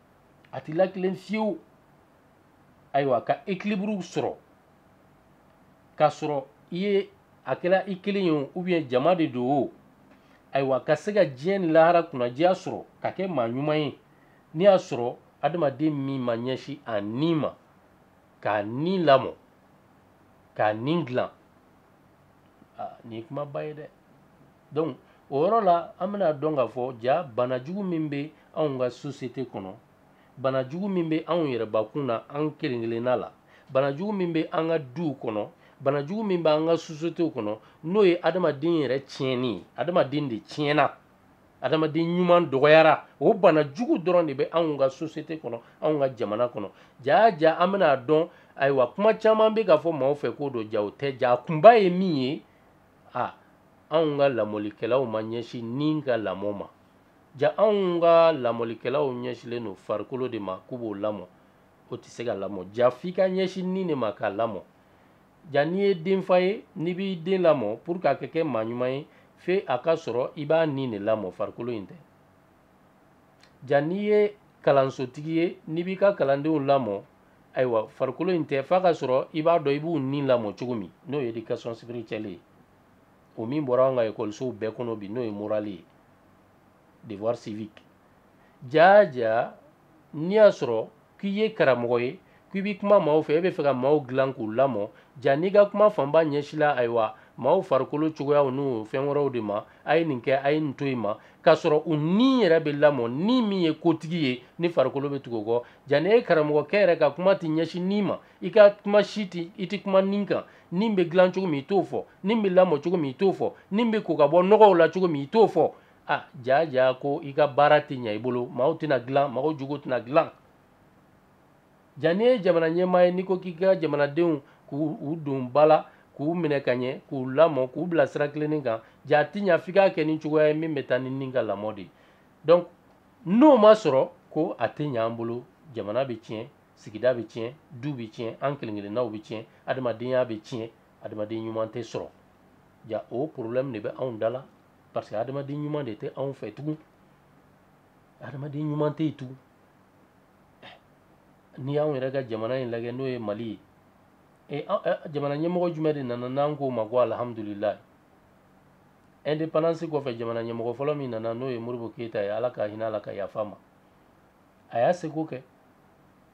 a tɛ latilen fiyewu ayiwa ka ekiliburuw sɔrɔ k'a sɔrɔ i ye a kɛra i kelen ye o ou bien jama de don o ayiwa ka se ka diɲɛ ni lahara kunnadiya sɔrɔ ka kɛ maa ɲuman ye n'i y'a sɔrɔ adamaden min ma ɲɛsin a ni ma k'a ni lamɔ k'a ni dilan nin ye kumaba ye dɛ donc o yɔrɔ la an bɛna a dɔn k'a fɔ ja bana jugu min bɛ anw ka sosiyete kɔnɔ bana jugu min bɛ anw yɛrɛbakun na an kelen kelenna la bana jugu min bɛ an ka duw kɔnɔ bana jugu min bɛ an ka sosiyetew kɔnɔ n'o ye adamaden yɛrɛ tiɲɛni ye adamaden de tiɲɛna adamaden ɲuman dɔgɔyara o bana jugu dɔrɔn de bɛ anw ka sosiyete kɔnɔ anw ka jamana kɔnɔ jaa ja an bɛna a dɔn ayiwa kuma caman bɛ ka fɔ maaw fɛ k'o don ja o tɛ ja a kunba ye min ye a anw ka lamɔlikɛlaw ma ɲɛsin ni ka lamɔ ma ja anw ka lamɔlikɛlaw ɲɛsinlen don farikolo de ma k'u b'o lamɔ o tɛ se ka lamɔ ja f'i ka ɲɛsin ni de ma k'a lamɔ ja n'i ye denfa ye n'i b'i den lamɔ pour que a ka kɛ maa ɲuman ye fo a ka sɔrɔ i b'a ni de lamɔ farikolo in tɛ ja n'i ye kalansotigi ye n'i b'i ka kalandenw lamɔ ayiwa farikolo in tɛ f'a ka sɔrɔ i b'a dɔn i b'u ni lamɔ cogo min n'o ye éducation spirituelle ye o min bɔra an ka ekɔlisow bɛɛ kɔnɔ bi n'o ye morale ye devoir civique jaa jaa n'i y'a sɔrɔ k'i ye karamɔgɔ ye k'i bɛ kuma maaw fɛ e bɛ fɛ ka maaw dilan k'u lamɔ ja n'i ka kuma fanba ɲɛsila ayiwa maaw farikolo cogoyaw n'u fɛn wɛrɛw de ma a ye nin kɛ a ye nin to yen ma k'a sɔrɔ u ni yɛrɛ bɛ lamɔ ni min ye kotigi ye ni farikolo bɛ tugu o kɔ ja ni e karamɔgɔkɛ yɛrɛ ka kuma tɛ ɲɛsin ni ma i ka kuma si tɛ i tɛ kuma ni kan ni bɛ dilan cogo min i t'o fɔ ni bɛ lamɔ cogo min i t'o fɔ ni bɛ ko ka bɔ nɔgɔw la cogo min i t'o fɔ ah ja ja ko i ka baara tɛ ɲɛ i bolo maaw tɛna dilan maaw jogo tɛna dilan ja n'i ye jamana ɲɛmaa ye n'i ko k'i ka jamanadenw k'u don ba la k'u minɛ ka ɲɛ k'u lamɔ k'u bila sira tilennen kan ja a tɛ ɲa f'i k'a kɛ ni cogoya ye min bɛ taa ni ni ka lamɔ de ye donc n'o ma sɔrɔ ko a tɛ ɲa an bolo jamana bɛ tiɲɛ sigida bɛ tiɲɛ du bɛ tiɲɛ an kelen kelennaw bɛ tiɲɛ adamadenya bɛ tiɲɛ adamaden ɲuman tɛ sɔrɔ ja o problème de bɛ anw da la parce que adamaden ɲuman de tɛ anw fɛ tugun adamaden ɲuman tɛ yen tugun eh, n'i y'anw yɛrɛ ka jamana in lajɛ n'o ye mali ye eh, eh, jamana ɲɛmɔgɔ jumɛn de nana n'an k'o ma ko alihamudulilayi indépendance kɔfɛ jamana ɲɛmɔgɔ fɔlɔ min nana n'o ye moribo keyita ye ala ka hinɛ a la ka yafa a ma a y'a seko kɛ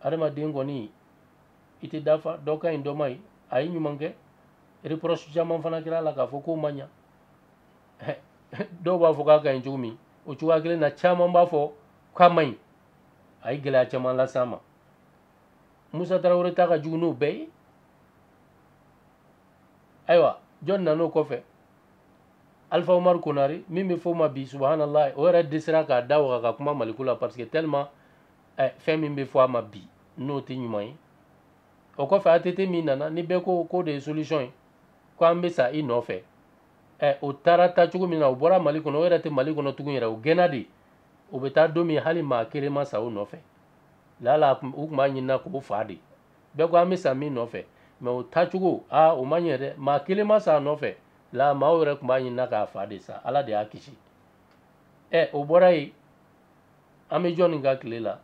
adamaden kɔni i tɛ dafa dɔ ka ɲi dɔ man ɲi a ye ɲuman kɛ reproche caman fana kɛra a la k'a fɔ k'o ma ɲa dɔw b'a fɔ k'a ka ɲi cogo min o cogoya kelen na caman b'a fɔ k'a man ɲi a ye gɛlɛya caman lase an ma musa tarawele ta ka jugu n'o bɛɛ ye ayiwa jɔn nan'o kɔfɛ alifa umaru konari min bɛ fɔ o ma bi subahanallahi o yɛrɛ dɛsɛra k'a da waga ka kuma maliko la parce que tellement eh, fɛn min bɛ fɔ a ma bi n'o tɛ ɲuman ye o kɔfɛ ATT min nana ni bɛɛ ko k'o de ye solution ye ko an bɛ sa i nɔfɛ ɛ o taara taa cogo min na o bɔra Mali kɔnɔ o yɛrɛ tɛ Mali kɔnɔ tugun yɛrɛ o gɛnna de o bɛ taa don min hali maa kelen ma sa o nɔfɛ lala u tun b'a ɲinina k'o faa de bɛɛ ko an bɛ sa min nɔfɛ mɛ o taacogo aa o ma ɲɛ dɛ maa kelen ma sa a nɔfɛ la maaw yɛrɛ tun b'a ɲinina k'a faa de sa ala de y'a kisi ɛ o bɔra yen an bɛ jɔni ka tile la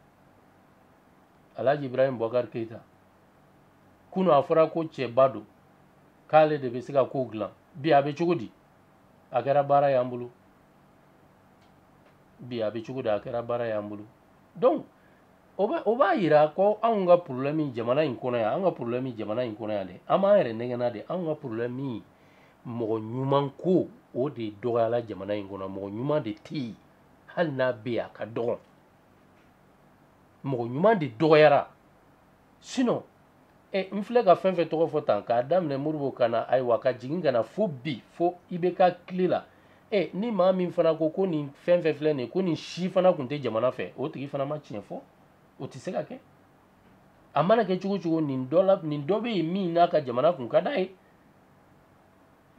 alhaji ibrahim bɔkari keyita kunu a fɔra ko cɛba don k'ale de bɛ se ka kow dilan bi a bɛ cogo di a kɛra baara y'an bolo bi a bɛ cogo di a kɛra baara y'an bolo donc o bɛ o b'a yira ko anw ka problème jamana in kɔnɔ yan an ka problème jamana in kɔnɔ yan dɛ an b'an yɛrɛ nɛgɛnna de anw ka problème mɔgɔ ɲuman ko o de dɔgɔyala jamana in kɔnɔ mɔgɔ ɲuman de tɛ yen hali n'a bɛ yen a ka dɔgɔn mɔgɔ ɲuman de dɔgɔyara sinon eh, n filɛ ka fɛn fɛn tɔgɔ fɔ tan k'a daminɛ moribo ka na ayiwa ka jigin ka na fo bi fo IBK tile la eh, ni maa min fana ko ko nin fɛn fɛn filɛ nin ye ko nin si fana tun tɛ jamana fɛ o tigi fana ma tiɲɛ fɔ o tɛ se ka kɛ a mana kɛ cogo cogo nin dɔ la nin dɔ bɛ yen min n'a ka jamana kun ka d'a ye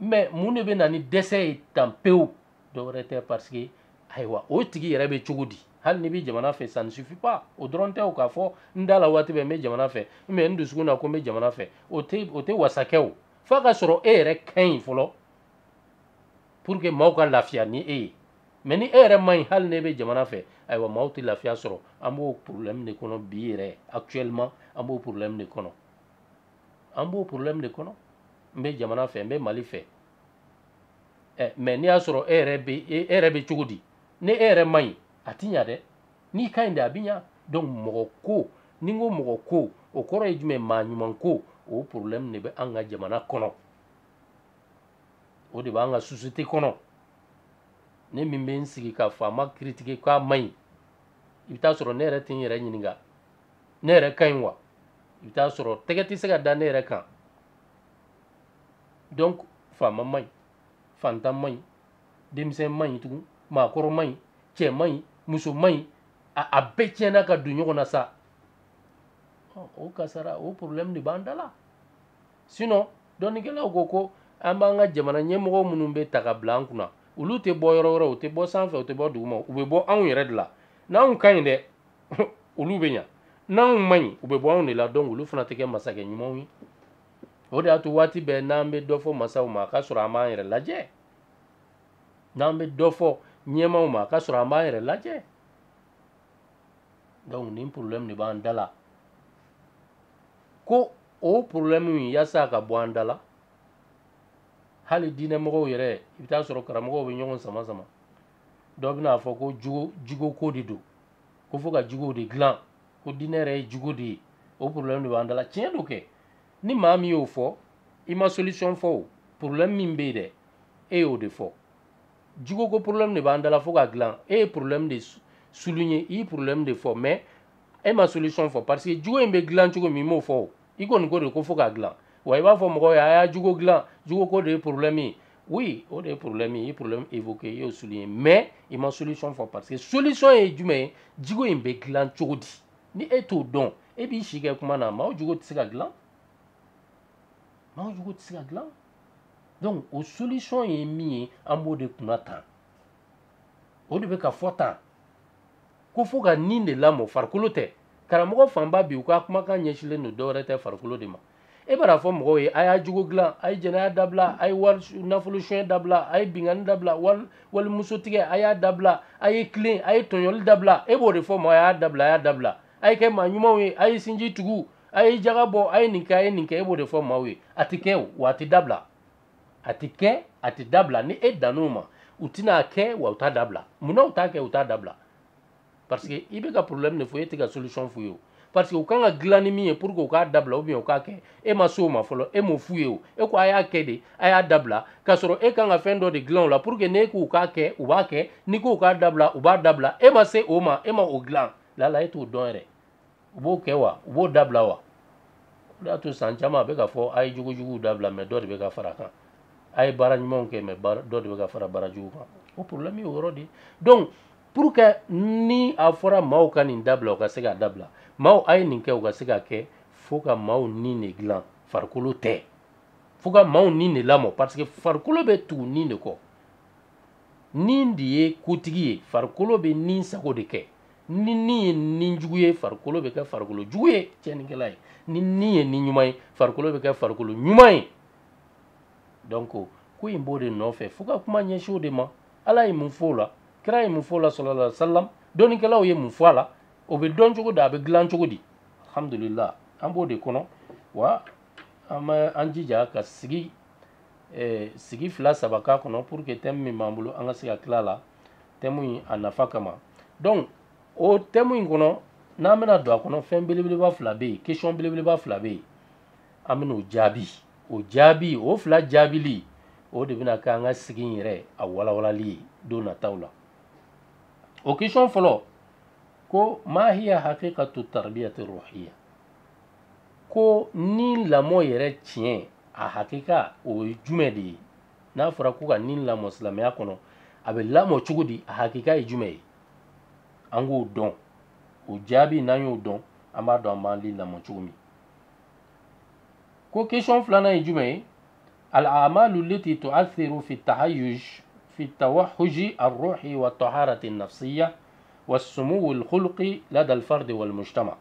mɛ mun de bɛ na ni dɛsɛ ye tan pewu dɔwɛrɛ tɛ parce que ayiwa o tigi yɛrɛ bɛ cogo di hali n'i bɛ jamana fɛ ça ne suffit pas o dɔrɔn tɛ o k'a fɔ n da la waati bɛɛ n bɛ jamana fɛ n bɛ n dusukun na ko n bɛ jamana fɛ o tɛ o tɛ wasa kɛ o f'a ka sɔrɔ e yɛrɛ ka ɲi fɔlɔ pour que maaw ka lafiya ni e ye mɛ ni e yɛrɛ man ɲi hali n'e bɛ jamana fɛ ayiwa maaw tɛ lafiya sɔrɔ an b'o problème de kɔnɔ bi yɛrɛ actuellement an b'o problème de kɔnɔ an b'o problème de kɔnɔ n bɛ jamana fɛ n bɛ mali fɛ ɛ mais n'i y'a sɔrɔ e yɛrɛ bɛ e yɛrɛ bɛ cogo di ni e yɛrɛ man ɲi a ti ɲa dɛ n'i ka ɲi de a bɛ ɲa donc mɔgɔ ko ni n ko mɔgɔ ko o kɔrɔ ye jumɛn maa ɲuman ko o problème de bɛ an ka jamana kɔnɔ o de b'an ka société kɔnɔ ne min bɛ n sigi ka faama critiquer k'a man ɲi i bɛ t'a sɔrɔ ne yɛrɛ tɛ n yɛrɛ ɲininka ne yɛrɛ ka ɲi wa i bɛ t'a sɔrɔ tɛgɛ tɛ se ka da ne yɛrɛ kan donc faama man ɲi fantan man ɲi denmisɛn man ɲi tugun maakɔrɔ man ɲi cɛ man ɲi muso man ɲi a bɛɛ tiɲɛna ka don ɲɔgɔn na sa o kasara o problème de b'an da la sinon dɔnnikɛlaw ko ko an b'an ka jamana ɲɛmɔgɔ minnu bɛ ta ka bila an kunna olu tɛ bɔ yɔrɔ wɛrɛ u tɛ bɔ sanfɛ u tɛ bɔ duguma u bɛ bɔ anw yɛrɛ de la n'anw ka ɲi dɛ olu bɛ ɲa n'anw man ɲi u bɛ bɔ anw de la donc olu fana tɛ kɛ masakɛ ɲumanw ye o de y'a to waati bɛɛ n'an bɛ dɔ fɔ masaw ma k'a sɔrɔ an b'an yɛrɛ lajɛ n'an bɛ dɔ fɔ ɲɛmaaw ma k'a sɔrɔ an b'an yɛrɛ lajɛ donc nin problème de b'an da la ko o problème in yasa a ka bɔ an da la hali diinɛmɔgɔw yɛrɛ i bɛ t'a sɔrɔ karamɔgɔw bɛ ɲɔgɔn sama sama dɔ bɛna a fɔ ko jogo jogo ko de don ko fo ka jogow de dilan ko diinɛ yɛrɛ ye jogo de ye o problème de b'an da la tiɲɛ don kɛ ni maa min y'o fɔ i ma solution fɔ o problème min bɛ yen dɛ e y'o de fɔ jogo ko problème de b'an da la fo k'a dilan e ye problème de souligner i ye problème de fɔ mais e ma solution fɔ parce que jogo in bɛ dilan cogo min i m'o fɔ o i kɔni ko de ko fo k'a dilan wa i b'a fɔ mɔgɔw ye a y'a jogo dilan jogo ko de ye problème ye oui o de ye problème ye i ye problème évoqué i y'o souligné mais i ma solution fɔ parce que solution ye jumɛn ye jogo in bɛ dilan cogo di ni e t'o dɔn e b'i si kɛ kuma na maaw jogo tɛ se ka dilan maaw jogo tɛ se ka dilan donc o solution ye min ye an b'o de kunna tan o de bɛ ka fɔ tan ko fo ka nin de lamɔ farikolo tɛ karamɔgɔ fanba bi u ka kumakan ɲɛsilen don dɔwɛrɛ tɛ farikolo de ma e b'a fɔ mɔgɔw ye a y'a jogo dilan a ye jɛnɛya dabila a ye wali nafolo suɲɛ dabila a ye binkanni dabila wali wali muso tigɛ a y'a dabila a ye tilen a ye tɔɲɔli dabila e b'o de fɔ maaw ye a y'a dabila a y'a dabila a ye kɛ maa ɲumanw ye a ye sinji tugu a ye jaga bɔ a ye nin kɛ a ye nin kɛ e b'o de fɔ maaw ye a tɛ kɛ o wa a tɛ dabila a ti kɛ a ti dabila ni e dann'o ma u tɛna a kɛ wa u t'a dabila mun na u t'a kɛ u t'a dabila parce que i bɛ ka problème de fɔ e tɛ ka solution f'u ye o parce que u kan ka dilan ni min ye pour que u k'a dabila ou bien u k'a kɛ e ma s'o ma fɔlɔ e m'o f'u ye o e ko a y'a kɛ de a y'a dabila k'a sɔrɔ e kan ka fɛn dɔ de dilan o la pour que n'e k'u k'a kɛ u b'a kɛ n'i k'u k'a dabila u b'a dabila e ma se o ma e ma o dilan lala e t'o dɔn yɛrɛ u b'o kɛ wa u b'o dabila wa o de y'a to san caman a bɛ ka fɔ a ye jogojuguw dabila mais dɔ de bɛ ka fara a kan a ye baara ɲumanw kɛ mais dɔ de bɛ ka fara baara jugu kan o problème y'o yɔrɔ de ye donc pour que ni a fɔra maaw ka nin dabila u ka se k'a dabila maaw a ye nin kɛ u ka se k'a kɛ fo ka maaw ni de dilan farikolo tɛ fo ka maaw ni de lamɔ parce que farikolo bɛ tugu ni de kɔ ni de ye kotigi ye farikolo bɛ ni sago de kɛ ni ni ye ni jugu ye farikolo bɛ kɛ farikolo jugu ye tiɲɛnikɛla ye ni ni ye ni ɲuman ye farikolo bɛ kɛ farikolo ɲuman ye donc ko in b'o de nɔfɛ fo ka kuma ɲɛsin o de ma ala ye mun fɔ o la kira ye mun fɔ o la sallallahu alaihi wa sallam dɔnnikɛlaw ye mun fɔ a la o bɛ dɔn cogo di a bɛ dilan cogo di alhamdulillah an b'o de kɔnɔ wa an bɛ an jija ka sigi eh, sigi fila saba k'a kɔnɔ pour que tɛmu min b'an bolo an ka se ka tila a la tɛmu in a nafa kama donc o tɛmu in kɔnɔ n'an bɛna don a kɔnɔ fɛn belebeleba fila bɛ yen question belebeleba fila bɛ yen an bɛna o jaabi o jaabi o fila jaabili o de bɛna kɛ an ka sigi in yɛrɛ a walawalali ye don nataw la o question fɔlɔ ko ma hiya hakikatu tarbiyati ruhiya ko ni lamɔ yɛrɛ tiɲɛ a hakika o ye jumɛn de ye n'a fɔra ko ka ni lamɔ silamɛya kɔnɔ a bɛ lamɔ cogo di a hakika ye jumɛn ye an k'o dɔn o jaabi n'an y'o dɔn an b'a dɔn an b'an ni lamɔ cogo min ko question filanan ye jumɛn ye al-amalu alati tu'athiru fi tawahuji ar-ruhi wa taharati an-nafsiyya wa sumuwi al-khulqi lada al-fardi wal-mujtama'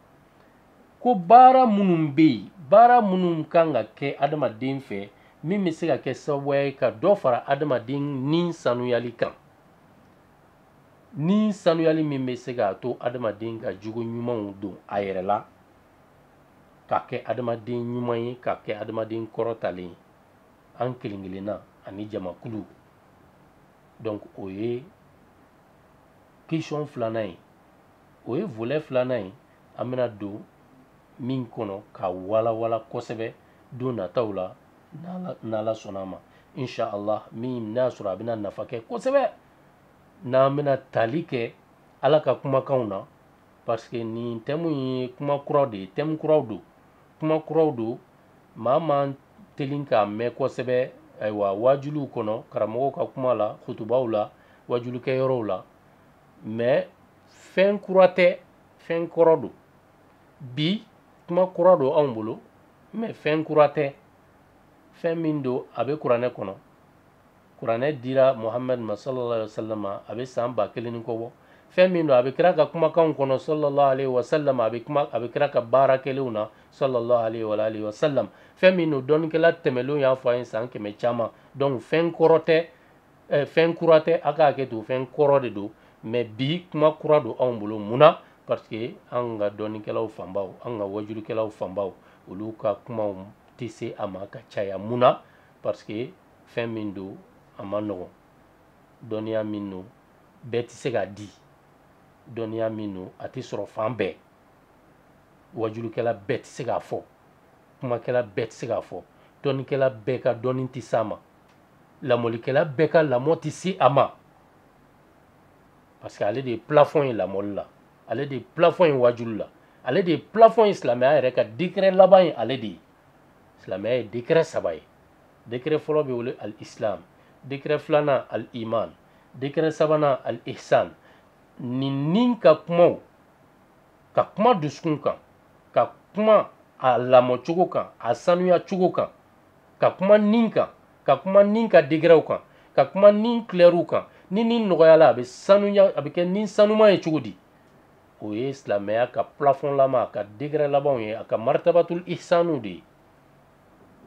ko baara minnu bɛ yen baara minnu kan ka kɛ adamaden fɛ min bɛ se ka kɛ sababu ye ka dɔ fara adamaden ni sanuyali kan ni sanuyali min bɛ se k'a to adamaden ka jogo ɲumanw don a yɛrɛ la ka kɛ adamaden ɲuman ye ka kɛ adamaden kɔrɔtalen ye an kelen kelenna ani jamakulu donc o ye question filanan ye o ye volet filanan ye an bɛna don min kɔnɔ ka walawala kosɛbɛ don nataw la n'ala sɔnna a ma inshallah min n'a sɔrɔ a bɛna nafa kɛ kosɛbɛ n'an bɛna tali kɛ ala ka kumakanw na parce que nin tɛmu ye kuma kuraw de ye tɛmu kuraw don kuma kuraw don maa man teli k'a mɛn kosɛbɛ ayiwa waajuliw kɔnɔ karamɔgɔw ka kuma la kutubaw la waajulikɛyɔrɔw la mais fɛn kura tɛ fɛn kɔrɔ don bi kuma kura don anw bolo mɛ fɛn kura tɛ fɛn min don a bɛ kuranɛ kɔnɔ kuranɛ dira muhamadu ma sallallahu alaihi wasallam a bɛ san ba kelen ni kɔ bɔ fɛn min don a bɛ kira ka kumakanw kɔnɔ sallallahu alaihi wasallam a bɛ kuma a bɛ kira ka baara kɛlenw na sallallahu alaihi wa alihi wasallam fɛn min don dɔnnikɛla tɛmɛlenw y'a fɔ an ye san kɛmɛ caman donc fɛn kɔrɔ tɛ eh, fɛn kura tɛ a ka hakɛ to fɛn kɔrɔ de don mɛ bi kuma kura don anw bolo mun na parce que an ka dɔnnikɛlaw fanbaw an ka wajulikɛlaw fanbaw olu ka kumaw tɛ se a ma ka caya mun na parce que fɛn min don a man nɔgɔn dɔnniya min don bɛɛ tɛ se k'a di dɔnniya min don a tɛ sɔrɔ fan bɛɛ wajulikɛla bɛɛ tɛ se k'a fɔ kumakɛla bɛɛ tɛ se k'a fɔ dɔnnikɛla bɛɛ ka dɔnni tɛ s'a ma lamɔlikɛla bɛɛ ka lamɔ tɛ se a ma parce que ale de ye plafɔn ye lamɔli la ale de ye plafɔn ye wajuli la ale de ye plafɔn ye silamɛya yɛrɛ ka degrɛ laban ye ale de ye silamɛya ye degrɛ saba ye degrɛ fɔlɔ bɛ wele al islam degrɛ filanan al iman degrɛ sabanan al ihsan nin ni ka kumaw ka kuma dusukun kan ka kuma a lamɔcogo kan a sanuya cogo kan ka kuma ni kan ka kuma ni ka degrɛw kan ka kuma ni kulɛriw kan ni ni nɔgɔyala a bɛ sanuya a bɛ kɛ ni sanuman ye cogo di o ye silamɛya ka plafɔnlama a ka degrɛ labanw ye a ka martabatul ihsanu de ye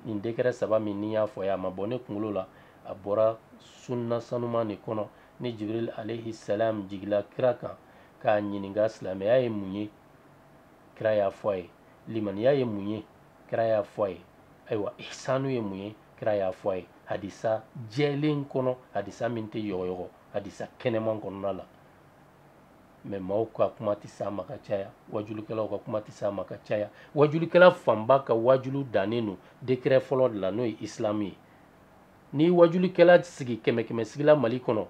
nin degrɛ saba min ne y'a fɔ a ye a ma bɔ ne kunkolo la a bɔra sunna sanuman de kɔnɔ ni jibril alayhi salam jigila kira kan k'a ɲininka silamɛya ye mun ye kira y'a fɔ a ye limaniya ye mun ye kira y'a fɔ a ye ayiwa ihsanu ye mun ye kira y'a fɔ a ye hadisa jɛlen kɔnɔ hadisa min tɛ yɔgɔyɔgɔ hadisa kɛnɛman kɔnɔna la mɛ maaw ka kuma tɛ s'a ma ka caya wajulikɛlaw ka kuma tɛ s'a ma ka caya wajulikɛla fanba ka wajuli dannen don degrɛ fɔlɔ de la n'o ye isilamu ye ni wajulikɛla sigi kɛmɛ kɛmɛ sigi la mali kɔnɔ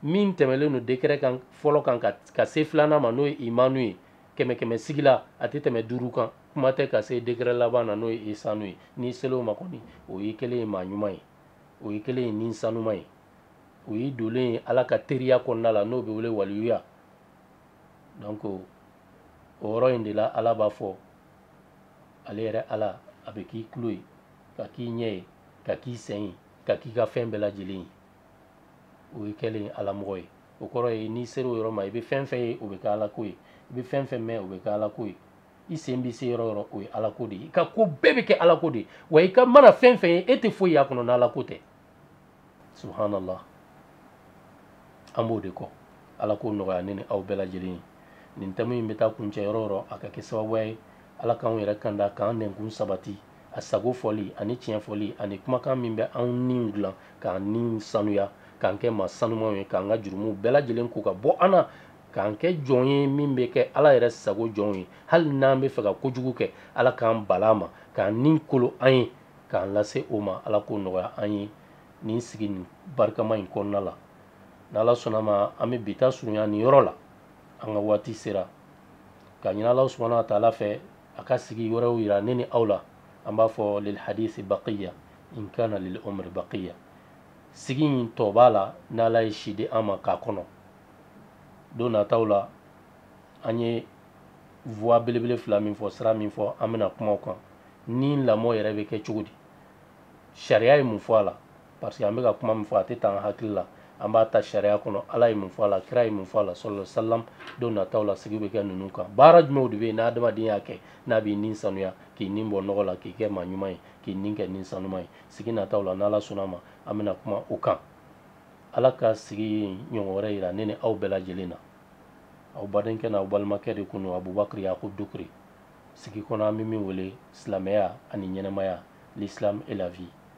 min tɛmɛlen don degrɛ kan fɔlɔ kan ka se filanan ma n'o ye imanu ye kɛmɛ kɛmɛ sigi la a tɛ tɛmɛ duuru kan kuma tɛ ka se degrɛ laban na n'o ye ihsanu ye n'i sela o ma kɔni o y'i kɛlen ye maa ɲuman ye o y'i kɛlen ye ni sanuman ye o ye i dolen ye ala ka teriya kɔnɔna la n'o bɛ wele waliyuya donc o yɔrɔ in de la ala b'a fɔ ale yɛrɛ ala a bɛ k'i tulo ye ka k'i ɲɛ ye ka k'i sen ye ka k'i ka fɛn bɛɛ lajɛlen ye o y'i kɛlen ye alamɔgɔ ye o kɔrɔ ye n'i sera o yɔrɔ ma i bɛ fɛn fɛn ye o bɛ kɛ ala ko ye i bɛ fɛn fɛn mɛn o bɛ kɛ ala ko ye i sen bɛ se yɔrɔ yɔrɔ o ye ala ko de ye i ka ko bɛɛ bɛ kɛ ala ko de ye wa i ka mana fɛn fɛn ye e tɛ foyi y'a kɔnɔ n'ala ko tɛ subhanallah an b'o de kɔ ala k'o nɔgɔya ne ni aw bɛɛ lajɛlen ye nin thème in bɛ taa kuncɛ yɔrɔ yɔrɔ a ka kɛ sababuya ye ala k'anw yɛrɛ kanda k'an nɛnkun sabati a sago fɔli ani tiɲɛ fɔli ani kumakan min bɛ anw niw dilan k'an niw sanuya k'an kɛ maa sanumaw ye k'an ka jurumuw bɛɛ lajɛlen ko ka bɔ an na k'an kɛ jɔn ye min bɛ kɛ ala yɛrɛ sago jɔnw ye hali n'an bɛ fɛ ka kojugu kɛ ala k'an bali a ma k'an ni kolo an ye k'an lase o ma ala k'o nɔgɔya an ye nin sigi nin barikama in kɔnɔna la n'ala sɔnna ma an bɛ bi ta surunya nin yɔrɔ la an ka waati sera k'a ɲini ala subahana wa taala fɛ a ka sigi wɛrɛw yira ne ni aw la an b'a fɔ lil hadisi baqiya in kana lil umri baqiya sigi in tɔ b'a la n'ala ye si di an ma k'a kɔnɔ don nataw la an ye voie belebele fila min fɔ sira min fɔ an bɛna kuma o kan ni lamɔ yɛrɛ bɛ kɛ cogo di sariya ye mun fɔ a la parce que an bɛ ka kuma min fɔ a tɛ ta an hakili la an b'a ta sariya kɔnɔ ala ye mun fɔ a la kira ye mun fɔ a la sɔlɔ salam don nataw la sigi bɛ kɛ ninnu kan baara jumɛnw de bɛ yen ni adamaden y'a kɛ n'a b'i ni sanuya k'i ni bɔ nɔgɔ la k'i kɛ maa ɲuman ye k'i ni kɛ ni sanuma ye sigi nataw la n'ala sɔnna ma an bɛna kuma o kan ala ka sigi in ɲɔgɔn wɛrɛ yira ne ni aw bɛɛ lajɛlen na aw badenkɛ n'aw balimakɛ de kun don abubakari yakub dukure sigi kɔnɔ an bɛ min wele silamɛya ani ɲɛnamaya l'islam et la vie